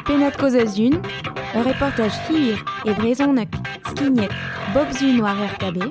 Pennad-kaoz a-zhun, ur reportaj hir e brezhoneg skignet bep Sun war RKB.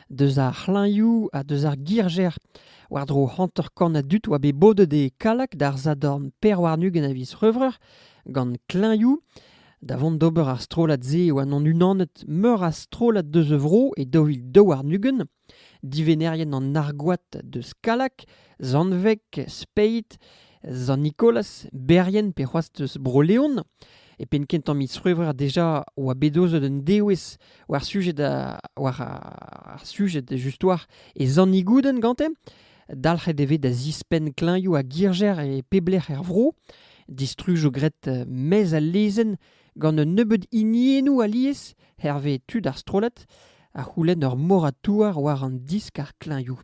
Deus ar c'hlañvioù ha deus ar girjer war-dro hanter-kant a dud oa bet bodet e Kallag d'ar sadorn per warn-ugent a viz C'hrevreur gant klañvioù. Da vont d'ober ar strollad-se e oan unanet meur a strollad deus a vro e daou vil daou warn-ugent. Divennerien an Argoad deus Kallag, Zanveg, Speiz, Sant-Nikolaz, Berrien pe c'hoazh deus Bro-Leon. E penn-kentañ miz C'hrevreur deja oa bet aozet un dewezh war sujed, war ar sujed just war e zannigouden gante. Dalc'het e vez da zispenn kleñioù a girjer e peblec'h er vro. Distruj o gret euh, mez al lezenn gant un nebeud hiniennoù alies hervez tud ar strollad a c'houlenn ur moratouar war an disk ar kleñioù.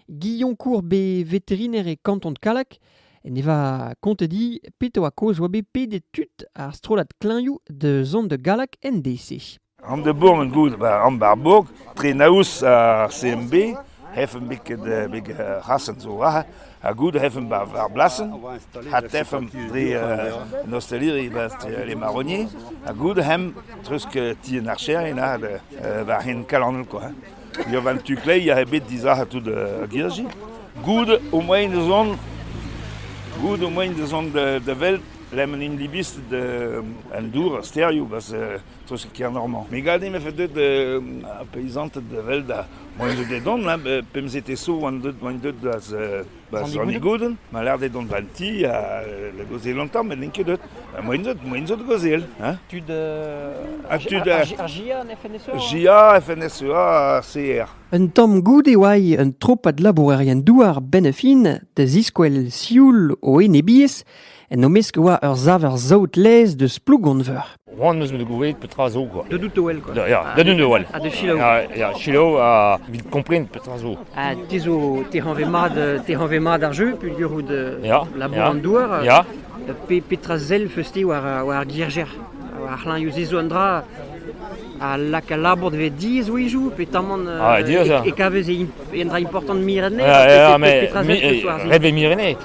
Guillaume Courbe, veterinaire e kanton Kalak, Ne va kontet dit petra oa kaoz oa bet pedet tud ar strollad klañvioù da zont da Gallag en deiz-se. An de Bourg en goud, ba, an Barbourg, tre naoz ar CMB, hefen bet bet rasen zo raha, ha goud hefen ba ar blasen, ha tefen dre an osteleri ba les marronniers, ha goud hem treuzk ti an archerien a war hen kalanel quoi. Ne oan tu kleier ebet dizalc'het tout ar girdi. Goude ho moain ez on goude ho moain ez on da da welet lemel int libistr da an dour, ar stêrioù, parce que treuzket Kernormand. Me gade em efe deuet ar peizanted da welet ar moain zo dedans, pemzek eo 'zo oant deuet oant deuet da Ba Zornigoden, ma lec'h dezhe dont ganti ha da gaozeal an tamm, met n'int ket deut. Moen zot, moen zot gaozeal. Hein? Tud... Uh, tud ar GIA, FNSEA GIA, FNSEA, CR. Un tamm goude oa un tropad labourerien-douar benn a fin da ziskouel sioul o enebiezh en o mesk e oa ur saver saout-laezh deus Plougonveur. C'hoant eus me gouzout petra zo quoi. De dout o wel quoi. Ya, da dout o wel. Ha de selaou. Ya, selaou ha vit kompren petra zo. Ha te zo te hanve mat te hanve mat ar jeu puilhurout ya, labour ya, an douar. Ya. Pe petra sell feus-te war war ar gierjer. War c'hlanioù zo an dra a lak al labour dve diez oizou pe tamant ah, e, e kavez e un dra important mirene. Ja, ja, mais reve mirene.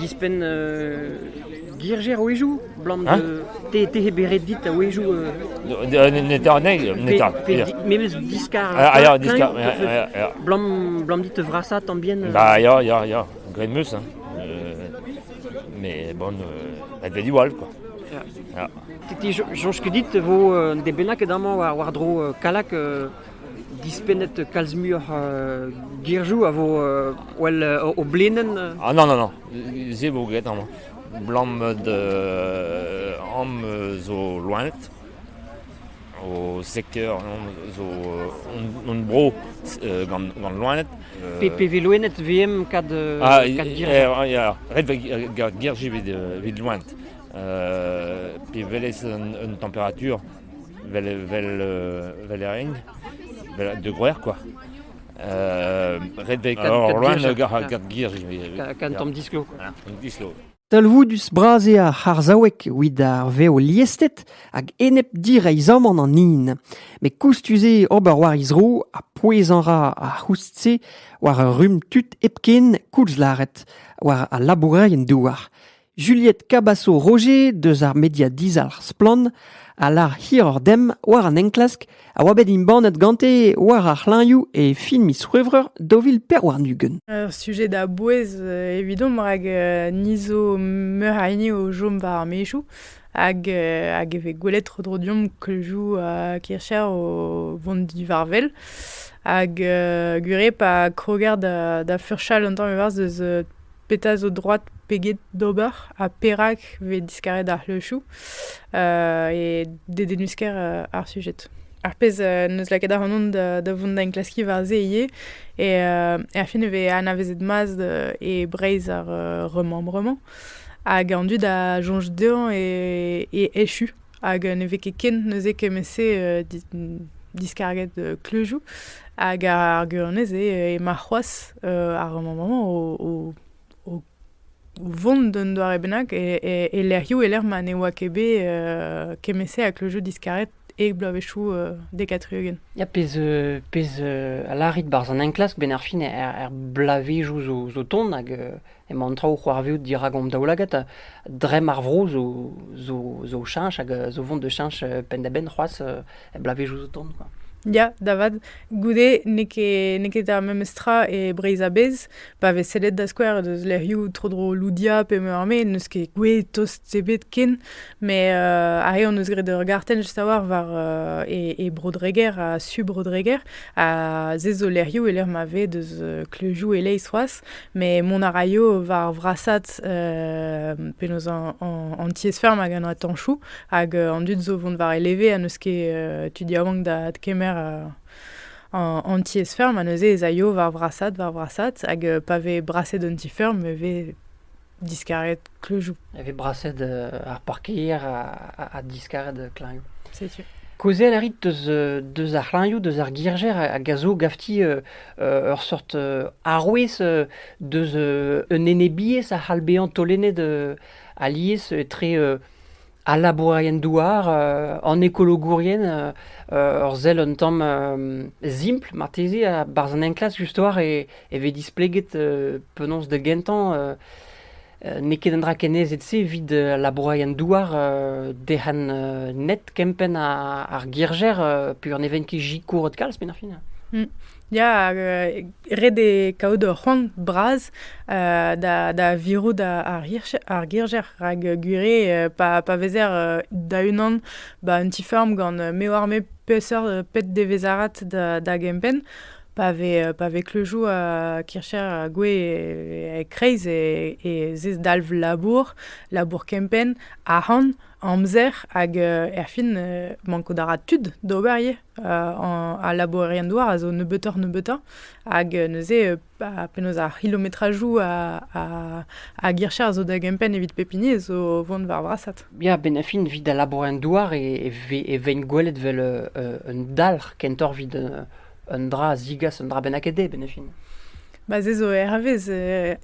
Dispenn girjer a-wezhioù 'blam te he beret dit a-wezhioù. Netra anezhi. Memes diskar. Ah, diskar. 'Blam dit te vrasañ tamm bien. Bah ya, ya, ya. Graet 'meus. Mais bon, elle fait du voile, quoi. Ja. Soñj ket dit e vo un den bennak ket amañ war-dro Kalak dispennet kalz muioc'h girzhoù a vo well o blenenn Ah non, non, non, se vo graet amañ. Blammet am zo loened, o sekteur zo hon bro gant loened. Pe vez loened VM kad ah, ret girji evit loened. Pe welez un température Vel, vel, vel e renk, vel de groer quoi. Euh, ret vel Alors, loin, gant gir. Quand on dislo. Talvoudus bras eo ar c'harzhaouek evit ar vev liestet hag enep direizhamant an hin. Met koustus eo ober war he zro ha pouezañ ra ar c'houst-se war ur rumm tud hepken koulz lâret war al labourerien douar. Juliette Cabaço-Roger deus ar media dizalc'h Splann a lar hiroc'h demp war an enklask a oa bet embannet gante war ar c'hlañvioù e fin miz C'hwevrer daou vil pevar-ugent. Ur sujet da bouez euh, evidomp rak euh, ni zo meur a hini o chom war ar maezioù hag, euh, hag e vez gwelet tro-dro deomp kleuzioù uh, kircher o vont divarvel. Hag uh, gwir eo pa kroger da, da furchal un tamm evarzh eus uh, petra zo droad peget d'ober ha perak vez diskaret ar c'hleuchoù e dedennus-kaer ar sujed. Ar pezh n'eus lakaet ac'hanon da da vont da enklaskiñ war-se ivez eo er fin e vez anavezet mat e Breizh ar remembrement hag an dud a soñj dezhañ e echu. Hag ne vez ket ken neuze kement-se diskarget kleuzioù. Hag ar gwirionez eo ema c'hoazh ar mañ-mañ o vont d'un doare bennak e lec'hioù e-lec'h ma ne oa ket bet kement-se a kleuzioù diskaret e bloavezhioù dek ha tri-ugent. Ya, pezh a lârit 'barzh an enklask, benn ar fin er bloavezhioù zo tont hag Emañ an traoù o c'hoarvezout dirak hon daoulagad. Dremm ar vro zo zo zo cheñch hag zo vont da cheñch penn-da-benn c'hoazh er bloavezhioù zo tont quoi. Ya, da vat. Goude n'eo ket n'eo ket ar memes tra e Breizh a-bezh. Pa vez sellet da skouer deus lec'hioù tro-dro Loudia pe Meurme n'eus ket gouez tost ebet ken. Met ar re hon eus graet ur gartenn just a-walc'h war e e Bro-Dreger ha su Bro-Dreger. Ha se zo lec'hioù e-lec'h ma vez deus kleuzioù e-leizh c'hoazh. Met mont a raio war vrasat euh, penaos an tiez-feurm hag an atanchoù hag euh, an dud zo vont war e leve ha n'eus ket euh, tu diabank da kemer an tiez-feurm ha neuze ez aio war vrasat, war vrasat hag pa vez braset an ti-feurm e vez diskaret Kleujoù. E vez braset ar parkeier ha diskaret klañvoù. Setu. Kaozeal a rit deus ar c'hlañvoù, deus ar girjer hag a zo gavti ur seurt arouez deus un enebiezh a c'hall bezañ taolennet alies etre Al labourerien-douar, an ekologourien ur sell un tamm simpl marteze. Barzh an enklask just-war e vez displeget penaos da gentañ n'eo ket un dra kennerzhet-se evit al labourerien-douar derc'hel net kempenn ar girjer peogwir ne vent ket sikourret kalz, penn ar fin. Ya, ret eo kaout ur c'hoant bras da virout ar girjer rak gwir eo pa vezer da-unan ba un ti-feurm gant me oar-me peseurt pet devezarat da gempenn, pa vez kleuzioù kircher gouez e-kreiz e zezdalv labour, labour kempenn, arc'hant, amzer hag erfin mankout a ra tud d'ober ivez. Al labourerien-douar a zo nebeutoc'h-nebeutañ hag neuze penaos ar c'hilometrajoù a gircher a zo da gempenn evit pep hini zo vont war vrasad. Ya, benn-ha-fin evit al labourerien-douar e veint gwelet vel un dalc'h kentoc'h evit un dra a zigas un dra bennak dezhe benn-ha-fin. Ba se zo hervez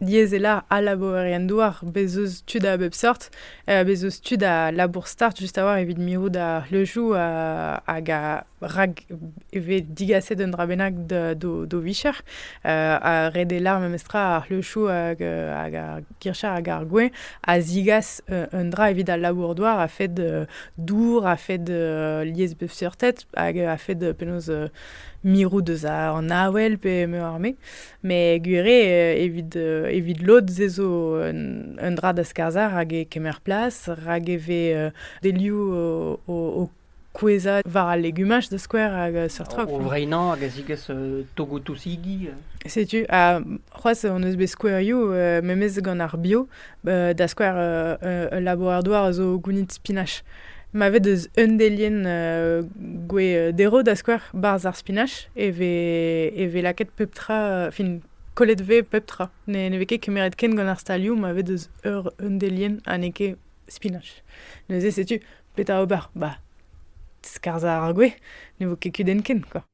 yezelañ al labourerien-douar, bez' eus tud a bep sort Bez' eus tud a labour start just a-walc'h evit mirout ar c'hleuzioù hag rak e vez digaset un dra bennak d'o vicher. Ha ret eo lâr memestra ar c'hleuzioù hag ar gircher hag ar gwez a zigas un dra evit al labour-douar a-fed dour, a-fed lies beufseurted hag a-fed penaos mirout eus an avel pe meur a me. Met gwir eo, evit, evit lod ez ezo un, un dra da skarzhañ rak e kemer plas, rak e vez delioù o, o, kouezhañ war al legumaj da skouer hag seurt trok. O vreinañ hag a zigas togoù-tousigi. Setu, ha c'hoazh hon eus bet skouerioù memes gant ar bio. da skouer ul labourer-douar a zo gounid spinach. Ma vez deus un delienn gwez derv, da skouer, barzh ar spinach, e vez, e vez lakaet pep tra, fin kollet vez pep tra. Ne, ne vez ket kemeret ken gant ar stalioù ma vez deus ur un delienn ha n'eo ket spinach. Neuze setu petra ober. Bah, skarzhañ ar gwez, ne vo ket kudenn ken, quoi.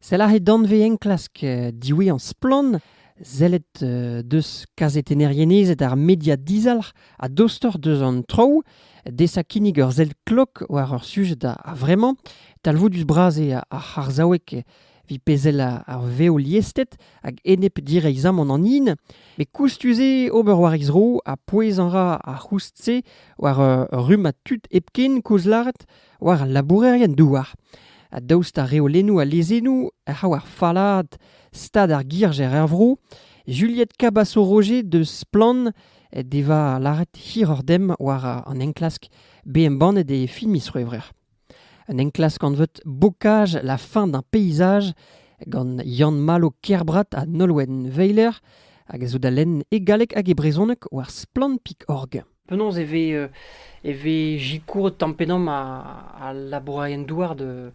Sell aze danvez-enklask diwezhañ Splann! Sellet deus kazetennerien-ezed ar media dizalc'h ha dostoc'h deus an traoù. Desañ kinnig ur sell klok war ur sujed a-vremañ. Talvoudus-bras eo ar c'harzhaoueg evit pezh ar vev liested hag enep direizhamant an hin. Met koustus eo ober war he zro ha pouezañ ra ar c'houst-se war ur rummad tud hepken koulz lâret. war al labourerien-douar. Ha daoust ha reolennoù ha lezennoù a raio ar fallaad stad ar girjer er vro, Juliette Cabasso-Roger deus Splann devoa lâret hiroc'h demp war an enklask bet embannet e fin miz C'hwevrer. Un enklask anvet Bocage la fin d'un paysage gant Yann-Malo Kerbrat ha Nolwenn Weiler hag a zo da lenn e galleg hag e brezhoneg war splann.org. Penaos e vez euh, e vez sikouret tamm-pe-damm a- al labourerien-douar de,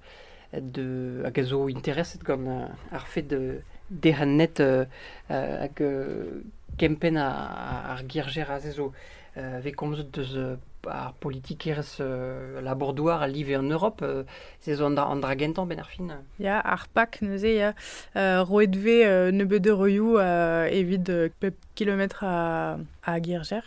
de, hag a zo intereset gant euh, ar fed euh, derc'hennet euh, euh, hag euh, kempenn a- ar girjer aze zo euh, vez komzet deus euh, ar politikerezh euh, labour-douar a live en Europe. euh, se zo an dra, an dra gentañ benn ar fin. Ya, ar PAK neuze, ya, euh, roet 'vez euh, nebeut euroioù euh, evit euh, pep kilometr a Girjer.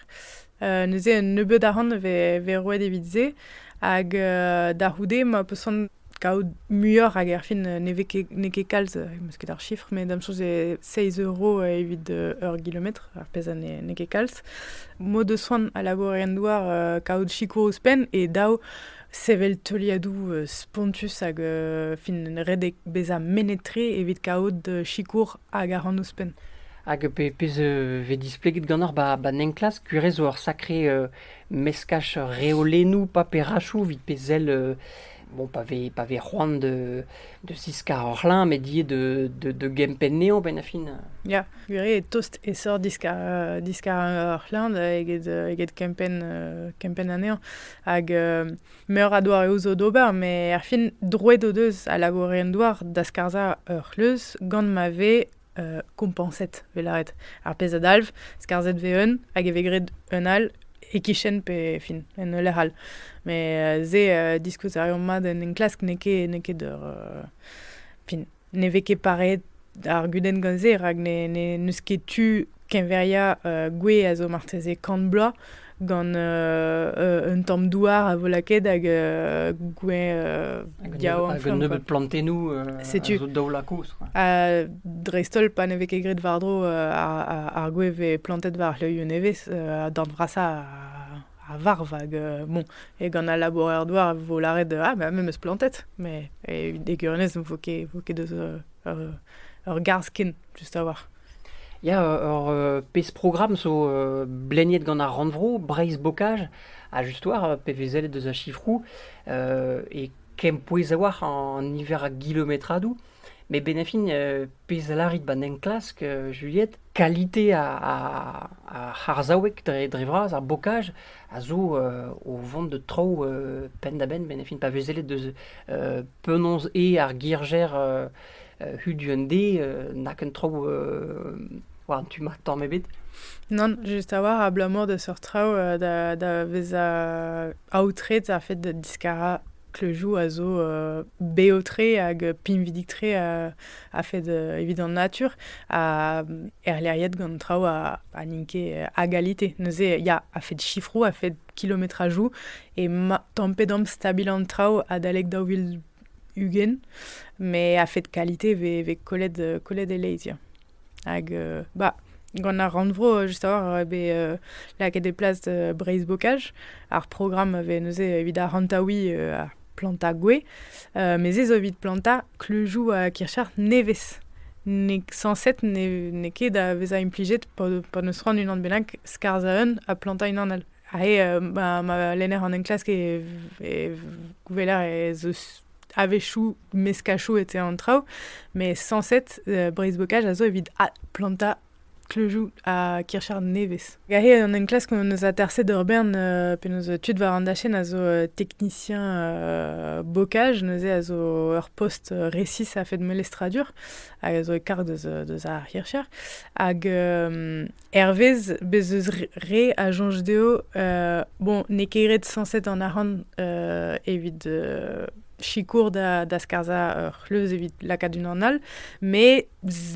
Euh, neuze un nebeud arc'hant vez, vez roet evit se. Hag euh, da c'houde ma peus c'hoant kaout muioc'h hag erfin ne vez ket, n'eo ket kalz, meus ket ar chiffre, mais da'm soñj eo 6 euro evit ur gilometr, ar pezh a n'eo ket kalz. Mod eus c'hoant a labourer en douar euh, kaout sikour ouzhpenn e dav sevel teuliadoù euh, spontus hag fin redek bezañ mennet-tre evit kaout sikour Hag a ran ouzhpenn. Hag pe pezh euh, vez displeget ganeoc'h ba, ba enklask, gwir zo ur sakre euh, meskaj reolennoù paperachoù evit pe sell euh, bon, pa vez, pa vez c'hoant de, de ziskar ur c'hlañ, met ivez de, de, de gempenn anezhañ benn a fin. Ya, gwir eo tost esor diskar, euh, diskar ur c'hlañ da eget, euh, eget kempenn, euh, kempenn anezhañ. Hag euh, Meur a doareoù zo d'ober, met er fin, droed o deus a labourerien-douar da skarzhañ ur c'hleuz gant ma vez uh, kompañset, vez lâret. Ar pezh a dalv, skarzhet vez un hag e vez graet un all e-kichen pe fin, en ul lec'h all. Met uh, se, uh, diskouez a reomp mat en enklask n'eo ket, n'eo ket ur... Uh, fin, ne vez ket pareet ar gudenn gant-se, rak n'eus ket tu keñveriañ uh, gwez a zo marteze kant bloaz gant uh, un tamm douar a vo lakaet hag uh, gwez uh, yaouank. Hag un nebeud plantennoù Setu. zo daoulakouz. dreist-holl pa ne vez ket graet war-dro ar, ar, ar gwez vez plantet war c'hleuioù nevez, uh, d'an vrasañ a varv hag euh, bon, e gant al labourer-douar vo lâret ah ben me meus plantet mais e egurunez vo ket vo ket deus euh, ur ur garzh ken just a-walc'h Ya, ur euh, pezh programm zo euh, bleniet gant ar rannvro, Breizh Bocage, a just war euh, PVZ deus a chifrou, euh, e kempouez a-walc'h an niver a gilometradoù. Met benefin, pezh a lârit 'ba 'n enklask, Juliette, kalite ar c'harzhaoueg dre dre vras, ar bokaj, a zo o vont da traoù penn-da-benn benefin pa vez sellet deus penaos eo ar girjer hudu-un-dé na ken traoù war an tu-mañ tamm ebet. Nann, just a-walc'h, abalamour da seurt traoù da vezañ aotret ar fed da diskarañ Kleujou a zo bev-tre hag pinvidik-tre a-fed evit an natur ha erleriet gant traoù a n'int ket a galite. Neuze ya, a-fed sifroù, a-fed kilometrajou eo tampet omp stabil an traoù adalek daou vil ugent, met a-fed kalite e vez kollet e-leizh ya. Hag euh, bah, gant ar rannvro, just a-walc'h, eo bet euh, lakaet e plas euh, Breizh-Bokaj. Ar programm a vez neuze evit ar hantaouiñ uh, ar plantañ gwez. Uh, Met se zo evit plantañ kleujoù a kircher nevez. N'eo sañset n'eo ket da vezañ implijet pa, pa n'eus c'hoant unan bennak skarzhañ un ha plantañ unan all. Ha he, uh, ma, ma lenner an enklask e, e gweler ez eus a-wechoù meskachoù etre an traoù, mais sañset euh, breizh-bokaj a zo evit plantañ kleujoù ha kirchar nevez. Gahe an enklask hon eus aterset ur bern euh, penaos tud war an dachenn a zo euh, teknisien euh, bokaj, neuze a zo ur post resis a-fed melestradur, hag a zo e karg deus, deus ar hircher. Hag Hervez bez' eus re a soñj dezho, bon, n'eo ket ret sañset an arc'hant evit sikour da da skarzhañ ur c'hleuz evit lakaat unan all, met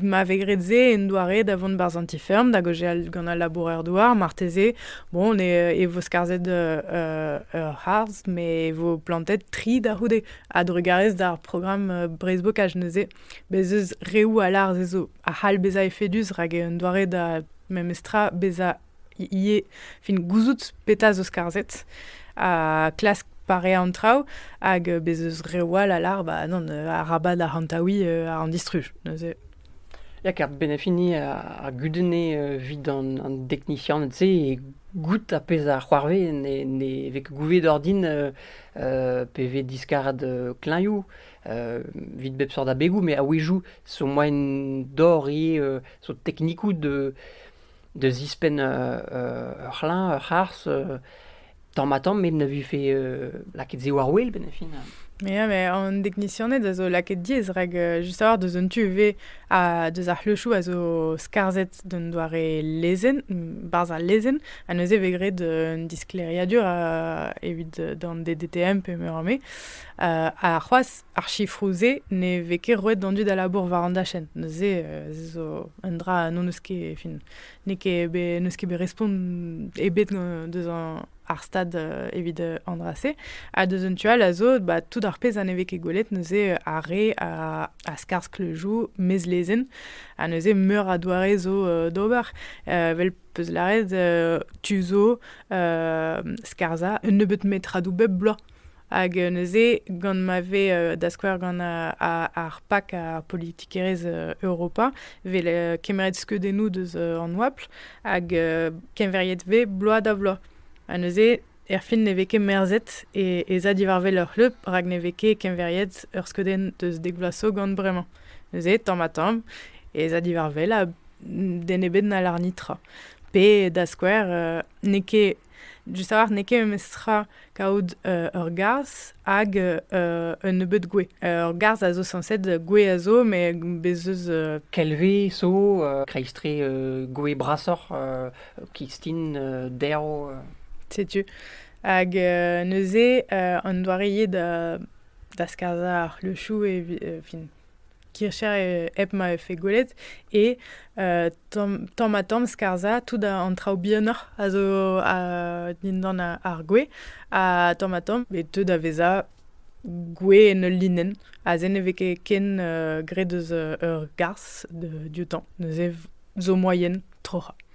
ma vez graet se en doare da vont barzh an ti-feurm, da gaozeal gant al labourer-douar, marteze, bon, e vo skarzhet ur c'harzh, met e vo plantet tri da c'houde. A-drugarez d'ar programm breizhbokaj neuze, bez' eus reoù a lâr se zo. a c'hall bezañ efedus rak un doare da memes tra bezañ ivez fin gouzout petra zo skarzhet ha klask pareañ an traoù hag bez eus reoù all a lar ba non arabat arc'hantaouiñ uh, an distruj neuze Ya, ker benefini a, gudene evit an, an deknisianed-se e goût a pezh a c'hoarvez ne, ne vez ket gouvet ordin pe vez diskarad kleñioù Vit bep seurt abegoù, met a-wezhioù zo moaien dor ivez zo teknikoù da zispenn ur c'hlañv, ur c'harzh tamm-ha-tamm met ne vefe lakaet se war-wel benn ar fin. Ya, met an deknisianed a zo lakaet diaes rak just a-walc'h deus an tu ivez ha deus ar c'hleuchoù a zo skarzhet d'un doare lezenn, barzh al lezenn ha neuze e vez graet un disklêriadur evit d'an DDTM pe meur a me. ha c'hoazh ar sifroù-se ne vez ket roet d'an dud a labour war an dachenn. Neuze euh, zo un dra n'en eus ket, fin, n'eo ket n'eus ket bet respont ebet deus ar stad euh, evit euh, an dra-se. Ha deus un tu all a zo bah, tout ar pezh a ne vez ket gwelet neuze ar re a, a skarzh le joù, mez lezenn, ha neuze meur a doare zo d'ober. Vel peus lâret tu zo skarzhañ un nebeut metradoù bep bloaz. Hag neuze, gant ma vez da skouer gant ar PAC, ar politikerezh Europa, vez kemeret skeudennoù deus an oabl hag keñveriet vez bloaz da vloaz. Ha neuze, erfin ne vez ket merzet e za diwar wel ur c'hleub rak ne vez ket keñveriet ur skeudenn deus dek vloaz zo gant bremañ. Neuze, tamm-ha-tamm, e za diwar wel ha den ebet n'hallarni tra. Pe da skouer, n'eo ket Just a-walc'h n'eo ket memestra kaout euh, ur garzh hag euh, euh, un nebeud gwez. ur garzh a zo sañset, gwez a zo, met bez' eus... euh, Kelve zo euh, kreiztre euh, gwez brasoc'h euh, kistin euh, derv. euh. Setu. Hag euh, neuze, euh, an doare eo da, da skarzhañ ar c'hleuchoù e vi- euh, fin, kircher hep ma vefe gwelet, e tamm ha tamm skarzhañ tout an traoù bihanoc'h a zo dindan ar gwez, ha tamm ha tamm e teu da vezañ gwez en ul linenn. Aze ne vez ket ken graet eus ur garzh dioutañ, neuze zo moaien troc'hañ.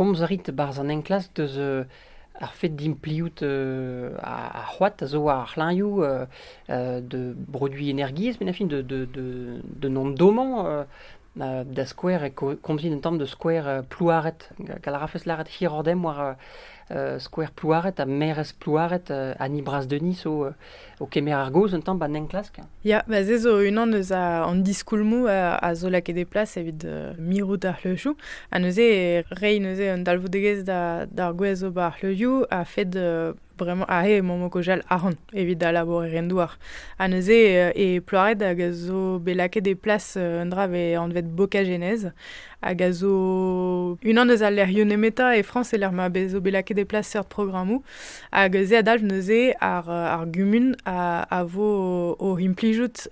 komz a rit e-barzh an enklask deus euh, ar fet d'impliout euh, ar c'hoad a zo war ar c'hlañioù euh, de produiñ energiezh, mais la fin de, de, de, de nomdomañ da skouer e komzin un tamm de skouer euh, Plouaret. Gall a rafes lâret hirordem war euh, skouer Plouaret ha merez Plouaret ha ni bras Denis o, o kemer ar gaoz un tamm ba enklask. Ya, ba se zo unan eus an diskoulmou a, zo lakaet e plas evit mirout ar c'hleuchou. Ha neuze, rei neuze un dalvoudegezh d'ar gwez o ba ar c'hleuchou a fed Bremañ aze emaomp o kojal ahont evit da labourer en douar. Ha neuze e Ploared hag a zo bet lakaet e plas un dra vez anvet Bokagenez hag a zo unan eus al lec'hioù nemetañ e Frañs e-lec'h ma zo bet lakaet e plas seurt programmoù. Hag se a dalv neuze ar, ar gumun a, a vo o implijout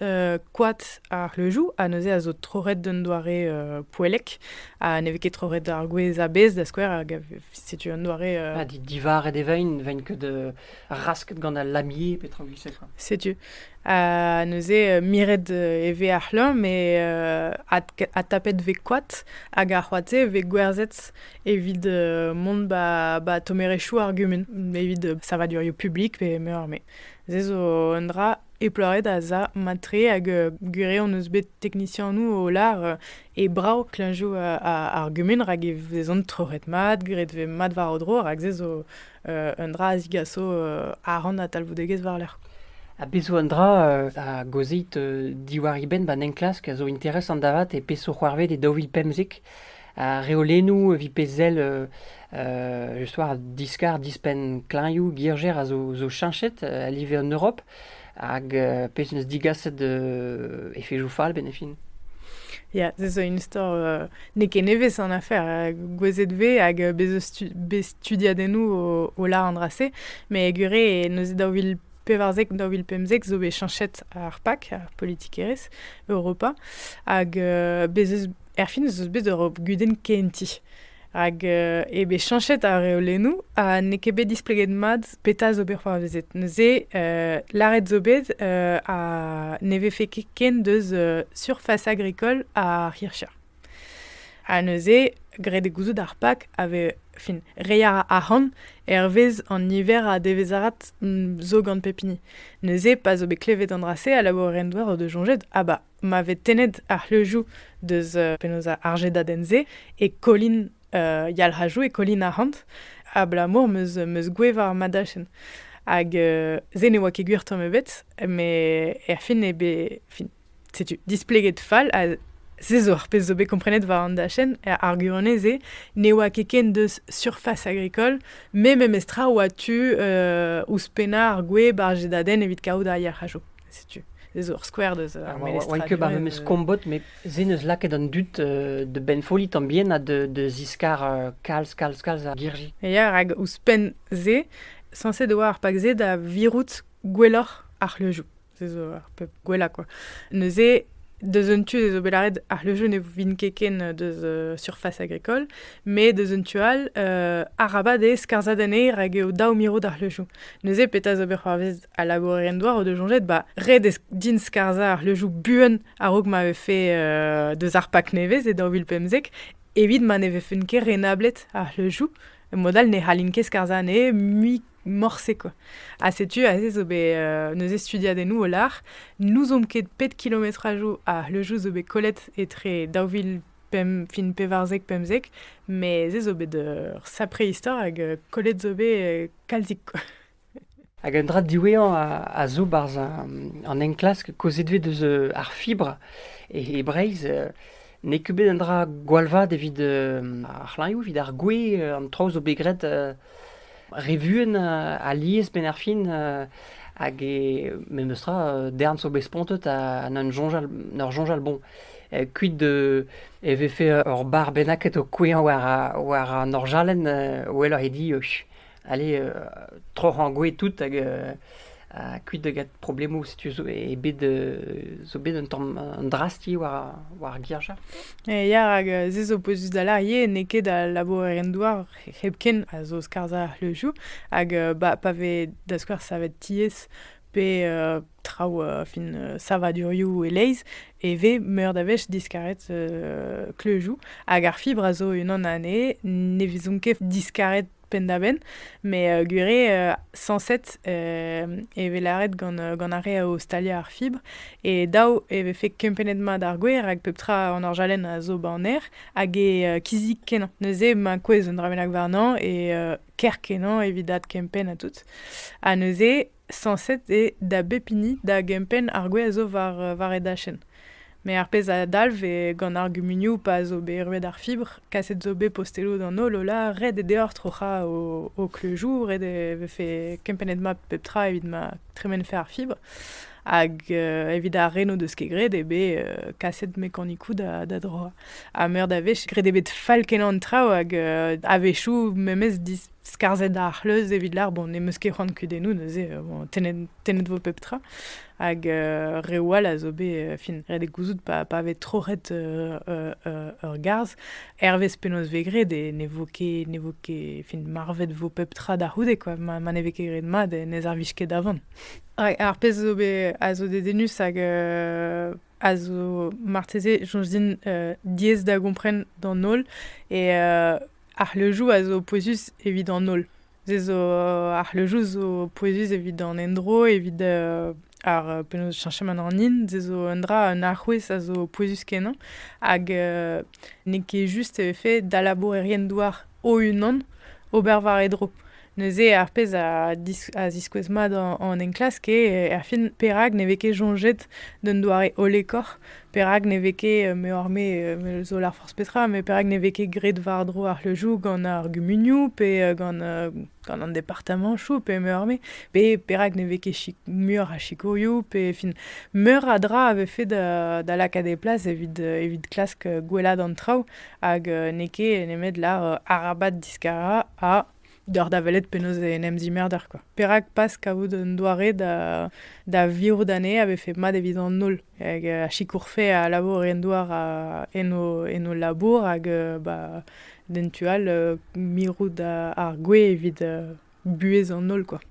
koad ar c'hleuzioù ha neuze a zo troc'het d'un doare poellek ha ne vez ket troc'het ar gwez a-bezh da skouer hag a setu un doare... Euh, ah, divaret e vein, vein ket euh, rasket gant al lamier, petra gwisek. Setu. Ha neuze, miret e ve ar c'hleur, me a tapet ve koat, hag ar c'hoate ve gwerzet evit mont ba, ba tomerechou ar gumun, evit savadurioù publik pe meur me. Se zo un dra eploret a za matre hag gure on eus bet teknisianou o lar E brav klañjoù ar gumun rak e vezont troc'het mat, graet e vez mat war o dro rak se zo un dra a zigaso ahont ha talvoudegezh war-lerc'h. Ha bez' zo un dra a gaozit diwar e benn 'ba'n enklask a zo interesant avat e peseurt c'hoarved e daou vil pemzek. Ar reolennoù evit pezh sell just war diskar dispenn klañjoù girjer a zo cheñchet a live an Europ. Hag pezh en deus digaset efezoù fall benn e fin. Ya, se zo un istor euh, n'eo ket nevez an afer. Euh, gouezet vez hag euh, bez bet studiadennoù o, o la an dra-se. Mais gure, neuze daou vil pevarzek, daou vil pemzek zo bet chanchet ar PAC, ar politikerezh Europa. Hag uh, bez erfin zo bet ur gudenn kenti. Hag e bet chanchet ar reolennoù ha n'eo ket bet displeget mat Petra zo bet c'hoarvezet? Neuze, euh, lâret zo bet euh, ha ne vefe ket ken deus euh, surface agricole ar hircha. Ha neuze, graet e gouzout ar pak a ve, fin, rei a ra arc'hant hervez an niver a devezarat mm, zo gant pep hini. Neuze, pa zo bet klevet an dra-se, a labour en doar o de jonjet, ah ba, ma vez tennet ar c'hleujou deus euh, penaos ar jedaden-se, e kolin euh, yalc'hajou e Colin Arhant, abalamour meus, meus goueva ar madachenn. Hag euh, se ne oa ket gwir tamm ebet, met er fin eo bet... Fin, setu, displeget fall ha se zo ar pezh zo bet komprenet war an dachenn, ar arguanez se ne oa ket ken deus surface agricole, me memestra oa tu euh, ouzhpennañ ar gweb ar jedadenn evit kaout ar yalc'hajo. setu ez zo ur skouer deus ar memes oan ket bar memes kombot met se neus lakaet an dud de benfolli tan bien ha de de ziskar kalz kalz kalz ar girji ya rak ouzhpenn se sañset e oa ar pak se da virout gwelloc'h ar c'hleujoù se zo ar pep gwellañ quoi neuze deus un tu ez zo bet lâret ar c'hleujoù ne vin ket ken deus uh, surface agricole mais deus un tu all uh, arabat eo skarzhat anezhe rak eo dav mirout ar c'hleujoù neuze petra zo bet c'hoarvez a laboure en doa o deus soñjet ba ret eo din skarzhañ ar leujoù buan a-raok ma vefe euh, deus ar pak nevez e daou vil pemzek evit ma ne vefen ket renablet ar leujoù mod all ne c'hallin ket skarzhañ anezhe mui morse quoi. Ha setu aze zo bet euh, neuze studiadennoù o lar. N'ouzomp ket pet kilometrajoù a leujoù zo bet kollet etre daou vil pem, fin pevarzek pemzek, mais ez zo bet ur sapre istor hag euh, kollet zo bet euh, kalzik quoi. Hag un dra diwezhañ a zo barzh an enklask kaozeet eus ar fibr e Breizh. N'eo ket bet un dra gwall vat evit ar c'hlanvioù, evit ar gwez. An traoù zo bet graet re vuan alies benn ar fin. Hag e memes tra darn zo bet spontet ha n'en soñjal n'ur soñjal bon. Kuit e vefe ur bar bennaket o kouezhañ war an orjalenn, welloc'h eo dit Allez, euh, troc'h angoue tout hag euh, ha kuit da get problemoù setu zo eo bet euh, zo bet un tamm un drasti war war ar girja. E ya rak euh, se zo pouezus da larie n'eo ket al labourerien-douar hepken a zo skarzhañ le jou hag euh, ba, pa vez da skouer savet tiez pe euh, traoù euh, fin euh, savadurioù e-leizh e vez meur da wech diskaret euh, kleujoù hag ar fibr a zo unan anezhe ne vezont ket diskaret penn-da-benn, met euh, gwir eo, sañset e vez lâret gant, gant ar re o staliañ ar fibr. E daou e vefe kempennet mat ar gwer, hag pep tra an orjalenn a zo ba an aer, hag e kizik kenañ. Neuze ma kouezh un dra bennak warnañ, e kerkenañ evit adkempenn ha tout. Ha neuze Sañset eo da bep hini da gempenn ar gwez a zo war e dachenn. Met ar pezh a dalv eo gant ar gumunioù pa zo bet ruet ar fibr, kaset zo bet posteloù d'an holl Ola, ret eo deoc'h troc'hañ ho kleuzioù, ret eo vefe kempennet mat pep tra evit ma tremenfe ar fibr. Hag evit ar re n'o deus ket graet eo bet kaset mekanikoù da droañ. Ha meur da wech, graet eo bet fall-kenañ an traoù hag a-wechoù memes skarzhet ar c'hleuz evit lar bon ne meus ket c'hoant kudennoù neuze bon, tennet, tennet vo pep tra hag euh, reoù all a zo bet euh, fin ret eo gouzout pa, pa vez troc'het euh, euh, euh, ur garzh hervez penaos vez graet e ne vo ket ne vo ket fin marvet vo pep tra da c'houde quoi ma, ma ne vez ket graet mat e ne servij ket da van Hag ar pezh zo bet a zo dedennus hag euh, a zo marteze soñj din euh, diaes da gompren d'an holl et euh, Ar c'hleuzioù a zo pouezus evit an holl. Se zo ar c'hleuzioù zo pouezus evit an endro, evit ar penaos cheñchamant an hin. Se zo un dra, un alc'houez a zo pouezus-kenañ hag n'eo ket just e vefe da labourerien-douar o-unan ober war e dro. Neuze, ar pezh a ziskouez mat an enklask eo erfin perak ne vez ket soñjet d'un doare hollekoc'h, perak ne vez ket, meoc'h-me zo lâr forzh petra, met perak ne vez ket graet war-dro ar c'hleuzioù gant ar gumunioù pe gant an departamantoù pe meoc'h-me, pe perak ne vez ket muioc'h a sikourioù pe fin meur a dra a vefe da lakaat e plas evit klask gwellaat an traoù hag n'eo ket nemet lâr arabat diskarañ ha Deoc'h da welet penaos en em zimerder quoi. Perak pas kavout un doare da, da virout anezhe a vefe mat evit an holl. Hag euh, a sikourfe a labour en douar a, en, o, en o labour hag euh, ba, d'en tu all euh, mirout ar gwez evit buhez an holl quoi.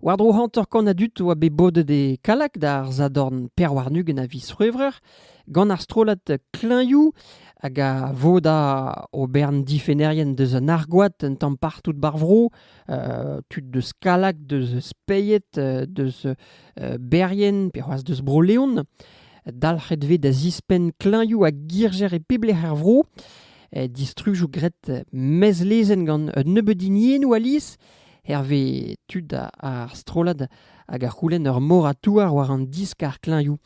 War-dro hanter-kant a dud a oa bet bodet e Kallag d'ar sadorn pevar-ugent a viz C'hwevrer gant ar strollad Klañvioù hag a voda o bern difennerien deus an argoad un tamm partout ba'r vro, tud deus Kallag, deus Speied, deus Berrien pe c'hoazh deus Bro-Leon. Dalc'het vez da zispenn klañvioù ha girjer e pep lec'h er vro. Distrujoù graet mezlezenn gant un nebeud hiniennoù alies. hervez tud ar strollad hag a c'houlenn ur mor a touar war an diskar klañvioù.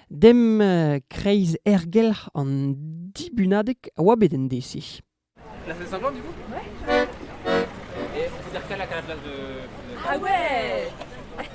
Dem kreiz ergelc'h an dibunadeg a oa bet en dese. La salle Saint-Jean, du coup Ouais. Et on peut dire qu'à la classe de... Ah ouais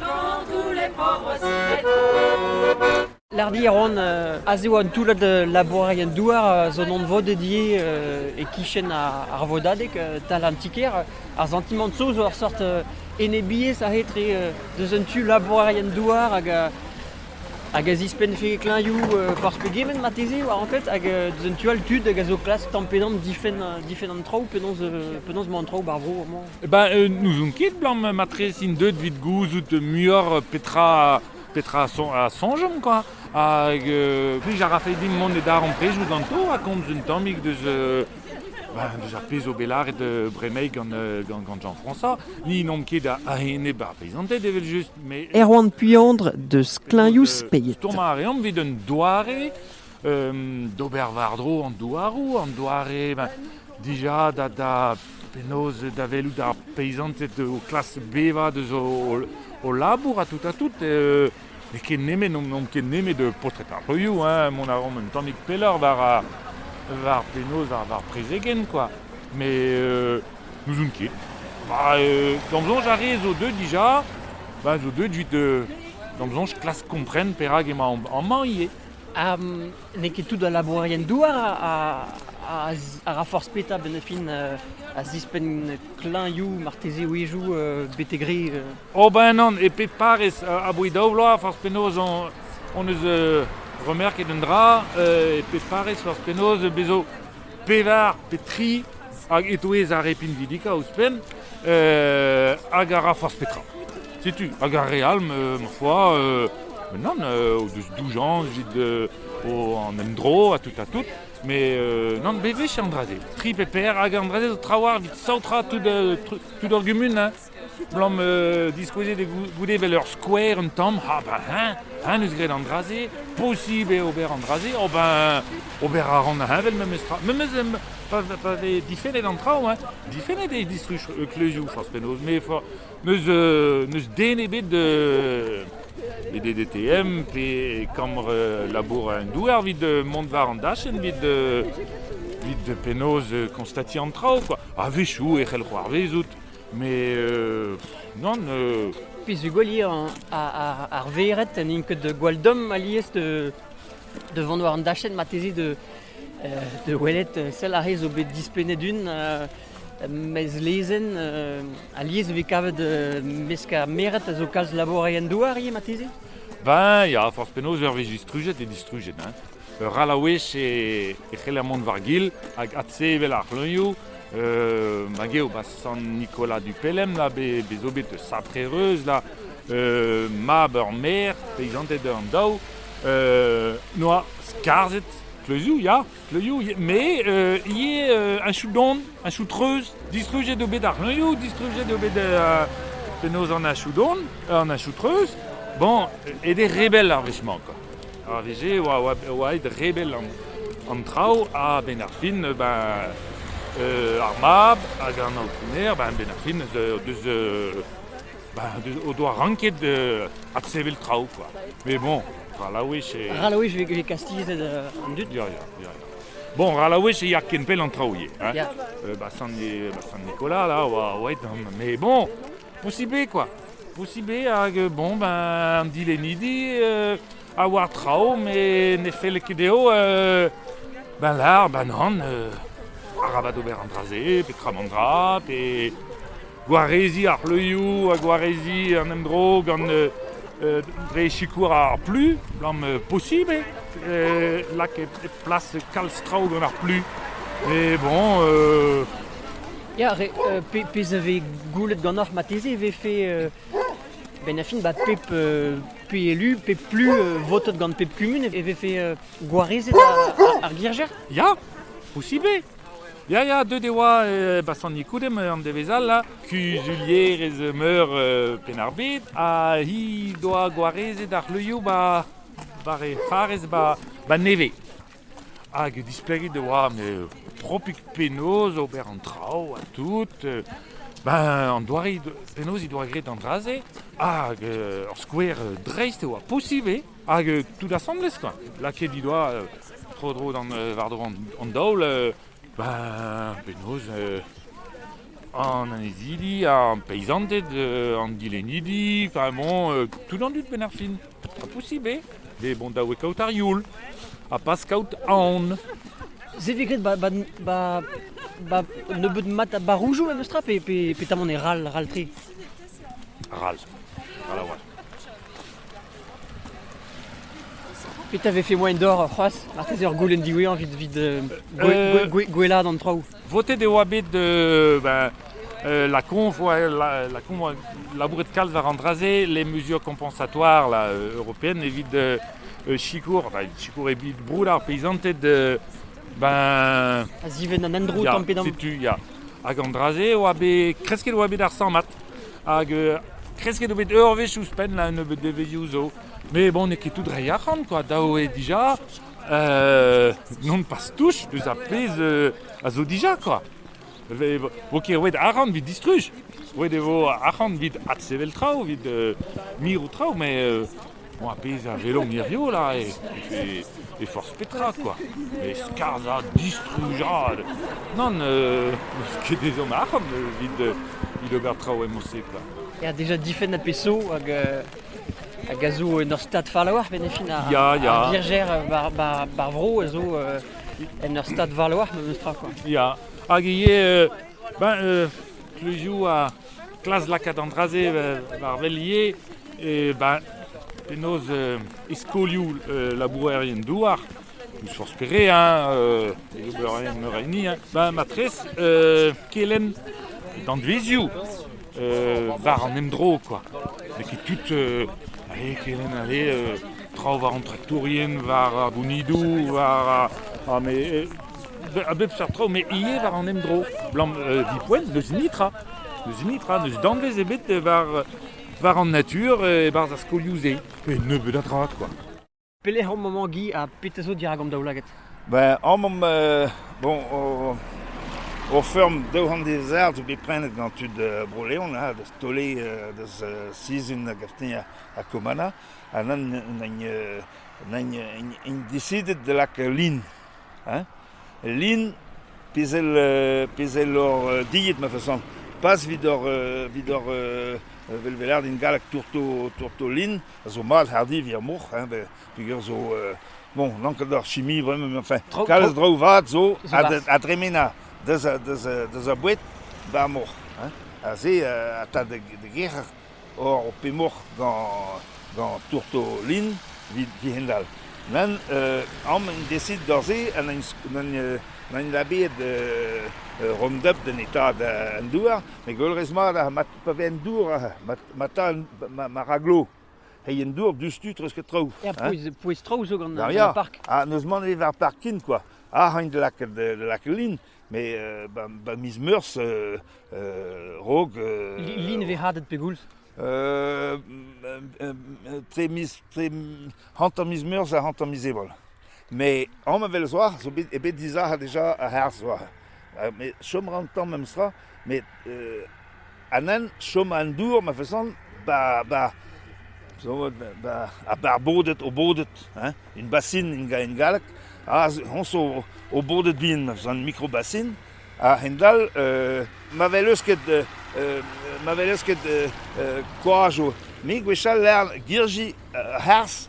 Kantoù les pauvres Lardi a ran a zo un toullad labourerien-douar zo anvodet ivez e-kichen ar vodadeg tal an ti-kêr. Ar santimant-so zo ur sort enebiezh a-etre deus un tu labourerien-douar hag hag a zispennfe klañvioù forzh pegement marteze war anklet hag deus un tu all tud hag a zo klask tamm pe damm difenn an traoù penaos emañ an traoù ba'r vro amañ. Eh ben, euh, n'ouzon ket, Blanc, matre, int deuet evit gouzout muioc'h petra, petra a son- a soñjomp, quoi. Hag euh, plij a rafe dimp mont e darempredoù ganto ha komz un tammig deus, euh, ben, deus ar pezh zo bet lâret euh, bremaik gant, euh, gant, gant Jean-François. Ni n'omp ket a- a-enep ar peizanted, evel-just, mais... Erwan Puandre deus Klañv-Speiz. Stourmañ a reomp evit un doare D'ober war-dro an douaroù, an doare dija da penaos da welout ar peisanted o klask bevañ deus o labour ha tout ha tout. N'eo ket nemet, n'on ket nemet paotred ar broioù, mont a ran un tammig pelloc'h war penaos ar prezegenn kwa, met n'ouzon ket. D'am soñj ar re zo deuet dija, zo deuet 'vit, d'am soñj klask kompren perak emañ amañ ivez. n'eo ket tout al labourerien-douar a ra forzh petra benn ar fin a zispenn klañvioù marteze a-wezhioù betek re. Ober ennon e pep parrez a-bouez daou vloaz forzh penaos hon eus remerket un dra e pep parrez forzh penaos bezo pevar pe tri, hag e-touez ar re pinvidikañ ouzhpenn, hag a ra forzh petra. Setu, hag ar re all, ma foi, nann, o deus doujañs evit an endro ha tout ha tout, met nann, bewech an dra-se, tri pe per, hag an dra-se zo trawalc'h evit saotrañ tout, tout ur gumun, hein. Blam euh, diskouezet goude evel ur skouer un tamm. Ha ben hein, hein eus graet an dra-se. Posibl eo ober an dra-se. Oh ben, ober a ran heñvel memes tra. Memes pa, pa vez difennet an traoù, hein. difennet eo distruj euh, kleuzioù forzh penaos. Mais n'eus euh, den ebet de les DDTM, pe kambre euh, labour un douer, vit de mont var an dachen, vit de, vit de penaos euh, constatier an traoù, quoi. A vechou e c'hell c'hoarvezout. Mais euh, non. Euh... Pezh gwalier ar vered n'int ket gwall domm alies de, de vont war an dachenn mateze de, euh, de welet sell ar zo bet dispennet un euh, mes lezenn euh, alies e vez kavet euh, mesk ar meret a zo kalz laboureien douar ivez mateze Ben, ya, forzh penaos, ur wech distrujet e distrujet, hein. Ur c'hallaouez e c'heller mont war-gil hag adsevel ar c'hleunioù. Hag eo ba Sant Nicolas du Pelem là bet zo bet sapre-reuz là mab ur maer, peizanted an daou, noa skarzhet kleuzioù ya, kleuzioù met ivez un chout don, un chout treuz. Distrujet eo bet ar c'hleunioù, distrujet eo bet penaos an achout don, an achout treuz. Bon, ed eo rebel ar wech-mañ quoi. Ar wech-se e oa aet rebel an traoù a-benn ar fin ar mab hag an aotrounez a-benn ar fin o doa ranket adsevel traoù kwa. Mais bon, ral a wech e... Ral a wech e veze kastizet an dud. Ya, ya, ya. Bon, ral a wech e ya ken pell an traoù ivez. Ba Sant-Nicolas, là, a oa aet. Mais bon, Posibl eo kwa. Posibl eo hag euh, bon ben an dilennidi euh, a oar traoù met ne felle ket dezho euh, ben lar ben an euh, arabat ober an dra-se petra an dra pe gwareziñ ar c'hleuioù ha gwareziñ an endro gant euh, euh, dre sikour ar plu blam euh, posibl eo euh, lakaet plas kalz traoù gant ar plu mais bon euh, Ya, re, euh, pezh a vez goulet ganeoc'h marteze e vefe euh, benn fin ba pep euh, pe élu, pep plus euh, votet gant pep kumun e vefe euh, gwarezet ar, ar girjer? Ya, posibl Ya, ya, deuet e oa e Bassani Koudem an devez all là, kuzulierez meur euh, Penn-ar-Bed, ha hi doa gwarezet ar c'hleulioù ba, ba re c'harez ba, ba nevez. Hag displegit e oa met propik penaos ober an traoù ha tout. Ben, an doare, penaos he doa graet an dra-se. Hag ur skouer dreist e oa posibl eo. Hag tout asambles quoi. Lakaet he doa tro-dro d'an war-dro an daol. Ben, penaos an annezidi, ar peizanted, an dilennidi, enfin bon, tout an dud benn ar fin. Ha posibl eo bet mont da wekaat ar youl ha pas kaout aon. Se vez graet ba, ba, ba, ba nebeut mat a baroujoù memes tra pe, pe, petamant e ral, ral-tre Ral. Ral a-walc'h. Petra vefe moain d'or c'hoazh marteze ur goulenn diwezhañ evit, evit euh, euh, gwelaat an traoù Votet e oa bet ben, lakaomp labouret kalz war an dra-se, les mesures compensatoires là, européennes evit sikour, sikour evit broud ar peisanted ben... A ziven an endro tamm pe damm. Hag an dra-se oa bet, kresket oa bet ar sammad, hag kresket oa bet ur wech ouzhpenn là, un nebeud devezhioù zo. Mais bon, n'eo ket tout reiñ arc'hant, quoi. Dav eo dija, Euh, non pas touche deus ar pezh euh, a zo dija kwa. Vo ket roet arc'hant vit distruj. Roet e vo arc'hant vit adsevel traoù, vit euh, mirout traoù, mais euh, bon, ar pezh a velomp hirio là e, e, e forzh petra quoi. E skarzhañ, distrujañ. Non, euh, ket ezhomm arc'hant vit, vit ober traoù e Montse. Il y a déjà 10 fenêtres PSO hag euh, Hag a zo en ur stad fall a-walc'h, met e fin ar, Ya, ya. ar virgère bar, bar, bar vro a zo euh, en ur stad fall a-walc'h, memes tra quoi. Ya. Hag ivez, euh, ben, euh, toujours a klas lakaat an dra-se euh, war wel ivez, e ben, penaos euh, e skolioù euh, labourerien douar, N'ouzh forzh pere, hein, euh, ober meur a hini, hein. Ben, matrez, euh, kelenn danvezioù euh, war an emdro, quoi. N'eo ket tout, euh, allez, kelenn, allez, euh, traoù war an traktourien, war ar bounidoù, war... Ah, mais... euh, a bep seurt traoù, mais ivez war an emdro. Blam, euh, dipoent, n'eus nitra. N'eus nitra, n'eus danvez ebet war, war an natur e-barzh ar skolioù-se. Pe nebeut a dra, quoi. Pelec'h omp amañ, Guy, ha petra zo dirak an daoulagad? Ben, omp, bon, o feurm daou c'hant dezert zo bet prenet gant tud Bro-Leon, ha da taoliñ deus sizhun gantañ ha Komana, ha n'int desidet da lakaat lin. Lin, pezh lor dilhet ma fason, pas evit hor velvelerien gallek tourto lin, a zo mall hardivi ar moc'h, hein, da- peger zo, euh, bon, n'an ket ar chimie bremañ, mais enfin, Tro- kalz tro- traoù vat zo a, barzh. a dremena deus a, deus a, deus a boued ba'r moc'h, hein. Ha se euh, a ta da, da gerc'hat or ho pe moc'h gant, gant tourtolin evit kehend-all. Nann, euh, amp en desit d'ur se ha n'en n'en, euh, n'en labeet euh, euh, Roundup d'an eta da- an douar, met gwelrez mat, ha mat pa vez an dour, ha mat ma ta ma raglo hei en dour dustu treusket traoù. Ya, pouez traoù zo gant ar park. Ha n'eus mann evit ar parking quoi. Ah, hain da lakaat da lakaat lin, mais euh, ba, ba miz meurzh euh, euh, rog... lin vez hadet pegoulz Tre miz, tre hanter miz meurzh ha hanter miz ebrel. Met amann-vell zoar zo bet eo bet dizalc'het deja ar c'harzh zoar. Met chom a ra an tamm memestra. Met an hent chom a-n dour ma fesont ba ba zo vat ba ar ba ar bodet o bodet hein un basin en galleg aze hon zo o bodet bihan ma fesont mikrobasin ha a-hend-all ma vel eus ket ma vel eus ket koaj o met gwechall 'lec'h girji ar c'harzh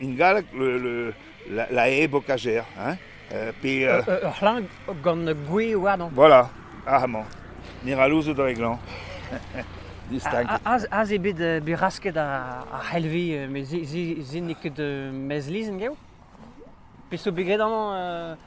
En galleg la, la e bokajer, hein, pe... ur c'hlañv gant gwe warnañ. Voilà, amañ. Mirallouzoù dre glañv. Distaget. Aze eo bet bet rasket ar c'helvi, met se n'eo ket mezlizn gav. Peseurt bet graet amañ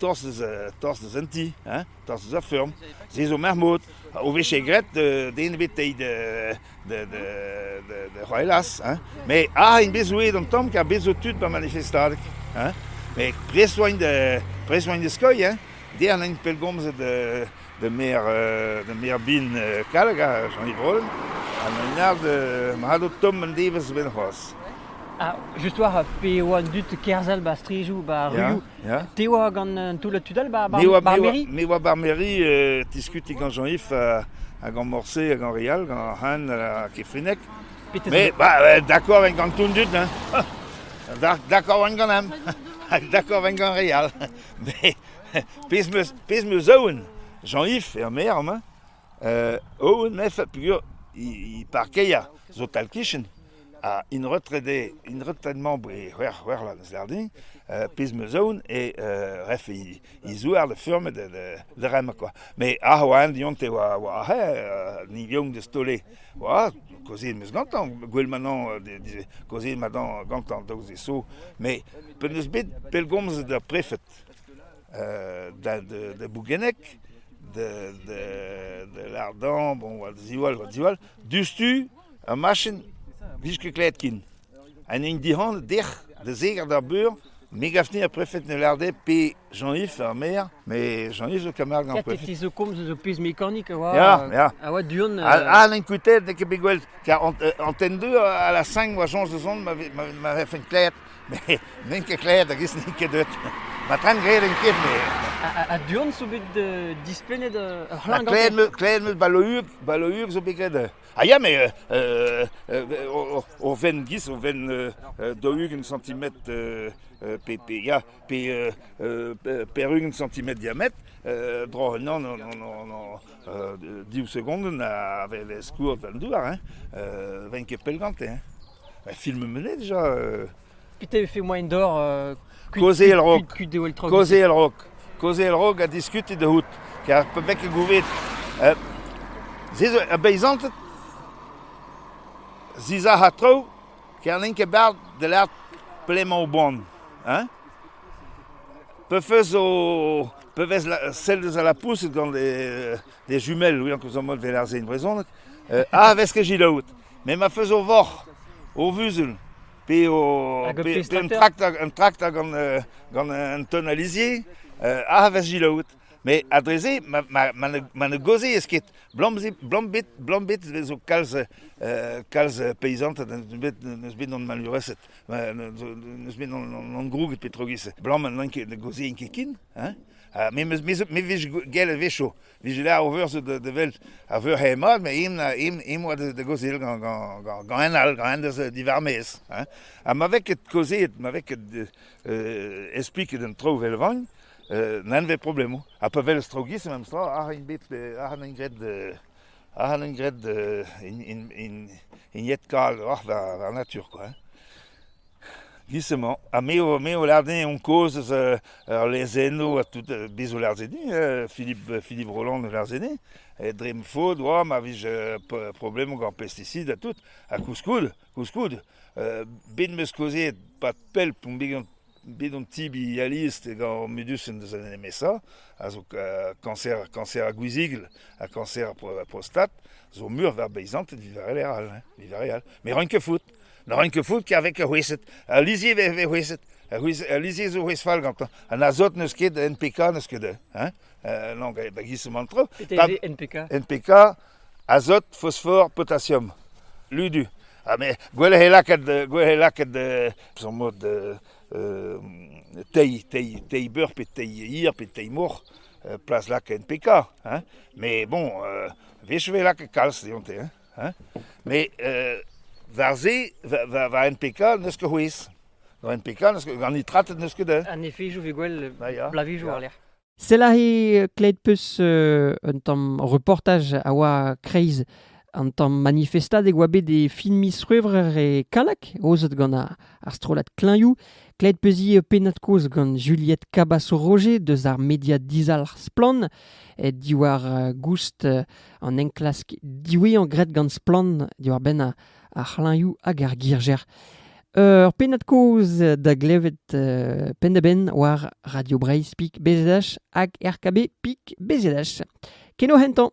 tostez, tostez en ti, hein, tostez a feurm. Se zo mermout, o vije graet den ebetei da c'hoelas, hein. Me a int bet zouet an tamm, kar bet zo tud ba manifestadeg, hein. Me prest oa int da, prest oa int da skeuilh, hein. Der n'int pellgomzet da maer da maer bin Kallag ha Jean-Yves Rollin ha an aod mat o tomm an devezh benn c'hoazh. Ah, just war, pe e oa an dud kerzhel ba strijoù, ba ruioù, te oa gant un toullad tud all ba mairie? Me oa bar mairie, diskuti gant Jean-Yves ha gant Morse ha gant Real, gant Han ha Kefrinec. Mais bah, d'accord en gant tout le dud, hein. D'accord en gant hem. D'accord en gant Real. Mais pezh 'meus pezh 'meus aon Jean-Yves er maer mañ euh, aon mefe peogwir he parkeier zo tal-kichen ha int retrede int retraitement e c'hwec'h c'hwec'h la n'eus din euh, pezh 'meus aon eo euh, ref he he zouar da furm da da rem quoi mais ah oa diont e oa oa he ni vion de stole oa kozit 'meus gantañ gwell manon kaozeet madan gantañ daoust e so mais pe 'neus bet pellgomz d'ar prefed da Bougenneg, da Lardan, bon, oa ziwall, oa ziwall. Diouzhtu, ur machin, vije ket klevet ken. An hini dic'hant, dec'h, da zeger d'ar beur, me gafni ar prefed ne larde pe Jean-Yves ar maer, mais Jean-Yves le camarade gant prefed. Fils de Comte eus o pezh mekanik a oa, ya, ya. a oa du-hont. Ah, n'en kutet, n'eo ket bet gwell, car en 2 à la 5, oa soñj da zont, ma vefe klevet. met n'en ket klet hag-ez n'int ket deut. Ma tren graet en ket, me. Ha du-hont zo bet dispennet ur c'hlann gant Klet meus balour, balour zo bet graet. Ha ya, mais o ven gis, o ven dougent centimetre pe, pe, ya, pe perugent centimetre diamètre, bro, non, non, non, non, non, div segonde na vez skourr vel douar, hein, ven ket pell gante, hein. Un film menet déjà euh, Putain, il fait moyen d'or. Euh, Coser le rock. Coser le rock. Coser le rock a discuté de hout. Car pe mek e gouvet. Euh, Zizo, a beizantet. Ziza ha trou. Ker n'en ket bard de l'art pléma au bon. Hein? Pe fez o... Pe vez la, sel deus a la pousset gant des, des jumelles, oui, en cos en mode veler zein brezonek. Euh, ah, vez ket git out. Me ma feus o voc'h, o vuzul, pe o hag pe, pe un trakt un trakt gant euh, gant un ton alizier, euh, a vez gelaouet. Mais ha dre-se, ma ma ma ne ma ne gaozez ket. Blam bet blam bet zo kalz euh, kalz paysanted n'eus bet n'eus bet gant malhureset. N'eus bet gant groug petrogis. Blam n'en ket ne gaozien ket kin, hein. Me me me vez gell vecho. Vije ler o veur da vel a veur hemad, me im im oa da gozil gant gant gant en all, gant en deus diwar mez. Ha ma vez ket kaozeet, ma vez ket espliket an traoù vel vagn, n'en vez problemoù. Ha pa welez traoù giz, memes tra, ac'h an bet, ac'h an graet ac'h an graet in in in in yet kal oc'h da natur kwa. Giz emañ ha me o lâret din on kozh eus ur lezennoù ha tout, bez' o lâret din Philippe Philippe Roland o lâret din dre ma faot oa ma vije problemoù gant pesticid ha tout ha koulskoude koulskoude bet 'm eus kaozeet pad pell on bet an tibi alies gant Medusen deus an MSA a zo kañser kañser ar gwizigl ha kañser ar prostat zo meur war beizanted evit ar re all, evit ar re all, met roin ket faot. Ne ran ket faot kavez ar c'hwezhed. Al lizher e vez c'hwezhet. Al lizher zo c'hwezh fall gantañ. An azot n'eus ket, NPK n'eus ket. Hein? Euh, non, da giz an tro. NPK NPK, azot, phosphore, potassium. Ludu. Ha me, gwell he lakaat, gwell he lakaat son mod tei, tei, tei beur pe tei hir pe tei mor, plas lak NPK. Hein? Mais bon, wech e lakaat kalz deonte. Hein? Met war se, war NPK n'eus ket c'hwezh. War NPK gant nitratet n'eus ket un. An efejoù vez gwell blavijoù war lec'h. Selahi klet peus un tamm reportaj a oa kreiz an tamm manifestad e oa bet e fin miz C'hwevrer e Kalak, aozet gant ar strollad Klañioù. Klet peuzi pennad kozh gant Juliette Cabasso-Roger deus ar media dizalc'h Splann, diwar goust an enklask diwezhañ graet gant Splann diwar-benn ar c'hlañvioù hag ar girjer. Ur pennad-kaoz da glevet penn-da-benn war Radio Breizh.bzh hag RKB.bzh. Keno hentañ!